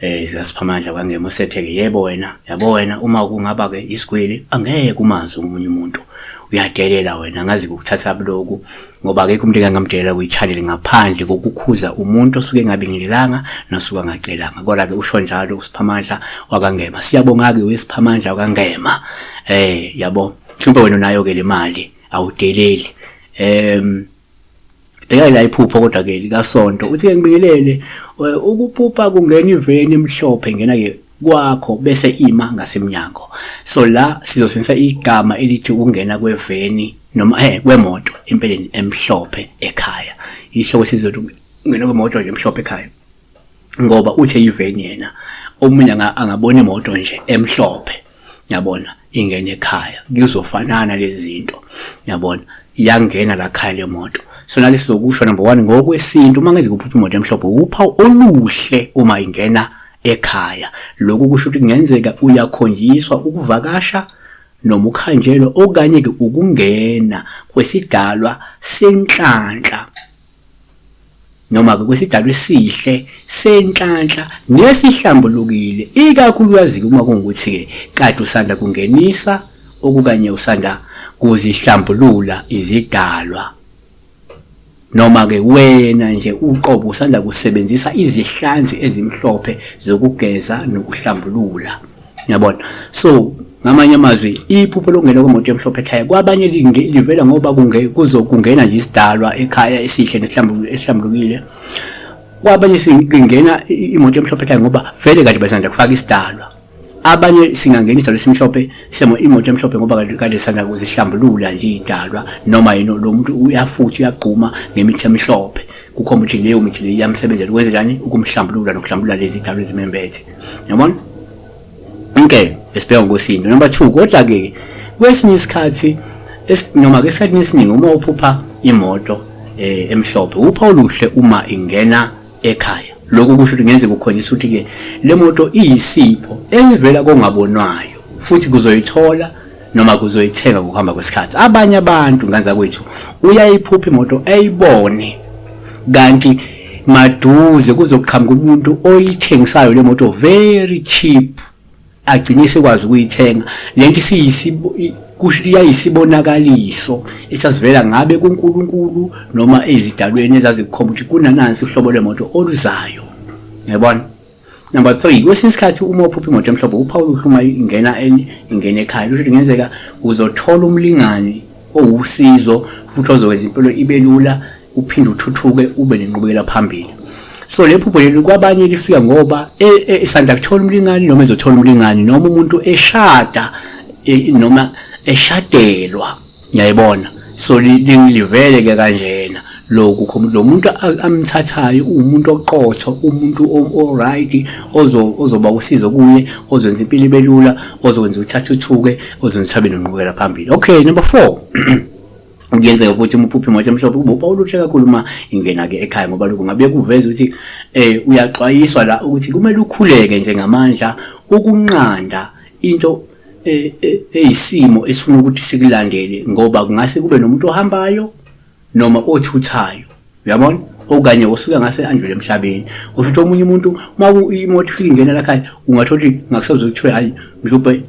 eh ziyasiphamandla kwangema usetheke yebo wena yabo wena uma kungaba ke isigwili angeke umazi umunye umuntu uyadelela wena ngazi ukuthatha buloku ngoba akekho umuntu engamdelela kuyichalele ngaphandle kokukhuza umuntu osuke engabingelelanga nosuka ngacelanga kodwa ke usho njalo usiphamandla wakangema siyabonga ke wesiphamandla wakangema eh yabo mhlawumbe wena nayo ke le mali awudeleli em um, Bheka la iphupho kodwa ke likasonto uthi ke ngibingelele ukuphupha kungena iveni emhlophe ngena ke kwakho bese ima ngasemnyango so la sizosebenzisa igama elithi ukungena kweveni noma eh kwemoto empeleni emhlophe ekhaya isho ukuthi sizokungena kwemoto nje emhlophe ekhaya ngoba uthe iveni yena omunye angabona imoto nje emhlophe yabona ingena ekhaya kuzofanana lezinto yabona iyangena la khaya le moto sona ke sizokusho number 1 ngokwesintu uma ngeze kuphupha imoto emhlophe upha oluhle uma ingena ekhaya lokhu kusho ukuthi kungenzeka uyakhonjiswa ukuvakasha noma ukhanjelwa okanye ke ukungena kwesidalwa senhlanhla noma-ke kwisidalwa esihle senhlanhla nesihlambulukile ikakhulukazi-ke uma kungukuthi-ke kade usanda kungenisa okukanye usanda kuzihlambulula izidalwa noma-ke wena nje uqobo usanda kusebenzisa izihlanzi ezimhlophe zokugeza nokuhlambulula Yabona. So ngamanye amazwi iphupho lokungena kwemoto emhlophe ekhaya kwabanye livela ngoba kuzokungena nje isidalwa ekhaya esihle nesihlambulukile kwabanye singena imoto emhlophe ekhaya ngoba vele kade basanda kufaka isidalwa abanye singangena isidalwa esimhlophe semo imoto emhlophe ngoba kade sanda kuzihlambulula nje idalwa noma yini lo muntu uyafuthi uyagquma ngemithi emhlophe kukhomba ukuthi leyo mithi leyo iyamsebenzela ukwenza njani ukumhlambulula nokuhlambulula lezi dalwa ezimembethe yabona okay esibheka ngokwesintu number 2 kodwa ke kwesinye isikhathi noma ke isikhathi esiningi uma uphupha imoto eh, emhlophe upha oluhle uma ingena ekhaya lokho kusho ukuthi ngenzeka ukhombisa ukuthi ke le moto iyisipho esivela kongabonwayo futhi kuzoyithola noma kuzoyithenga ngokuhamba kwesikhathi abanye abantu nganza kwethu uyayiphupha imoto eyibone kanti maduze kuzoqhamuka umuntu oyithengisayo le moto very cheap agcine sekwazi ukuyithenga lento siyisibo iyayisibonakaliso esasivela ngabe kuNkulunkulu noma ezidalweni ezazikukhomba ukuthi kunanansi uhlobo lwemoto oluzayo yabona Number 3 kwesinye isikhathi uma uphupha imoto emhlophe uphawu luhluma ingena ingena ekhaya kusho ukuthi kungenzeka uzothola umlingani owusizo futhi ozokwenza impilo ibe lula uphinde uthuthuke ube nenqubekela phambili so le phupho leli kwabanye lifika ngoba e, e, isanda kuthola umlingani noma ezothola umlingani noma umuntu eshada e, noma eshadelwa ngiyayibona so lingilivele ke kanjena lokho lo muntu amthathayo uwumuntu oqotho umuntu oright ozoba usizo kuye ozwenza impilo ibe lula ozokwenza ukuthi athuthuke ozwenza ukuthi abe nonqubekela phambili okay number four kuyenzeka futhi uma uphupha imoto emhlophe kuba uphawu oluhle kakhulu uma ingena-ke ekhaya ngoba lokhu ngabe kuveza ukuthi um uyaxwayiswa la ukuthi kumele ukhuleke nje ngamandla ukunqanda into e, e, eyisimo esifuna ukuthi sikulandele ngoba kungase kube nomuntu ohambayo noma othuthayo uyabona okanye osuke ngase andlule emhlabeni usho ukuthi omunye umuntu uma imoto ifika ingena lakhaya ungathola ukuthi ngakusazokuthiwa hayi mhlawumbe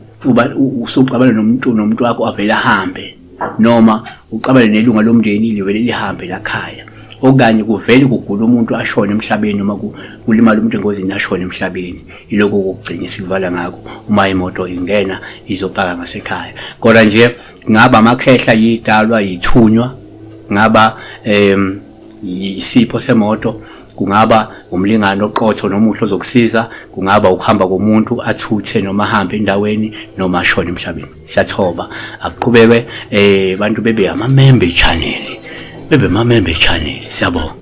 usuqabana nomuntu nomuntu wakho avele ahambe noma uxabane nelunga lomndeni livele lihambe lakhaya okanye kuvele kugula umuntu ashone emhlabeni noma kulimala umuntu engozini ashone emhlabeni iloko kokugcina sivala ngako uma imoto ingena izopaka ngasekhaya kodwa nje ngaba amakhehla yidalwa yithunywa ngaba em isipho semoto kungaba umlingano oqotho nomuhle ozokusiza kungaba ukuhamba komuntu athuthe noma ahambe endaweni noma ashone emhlabeni siyathoba akuqhubeke eh bantu bebe ama member channel bebe ama member channel siyabonga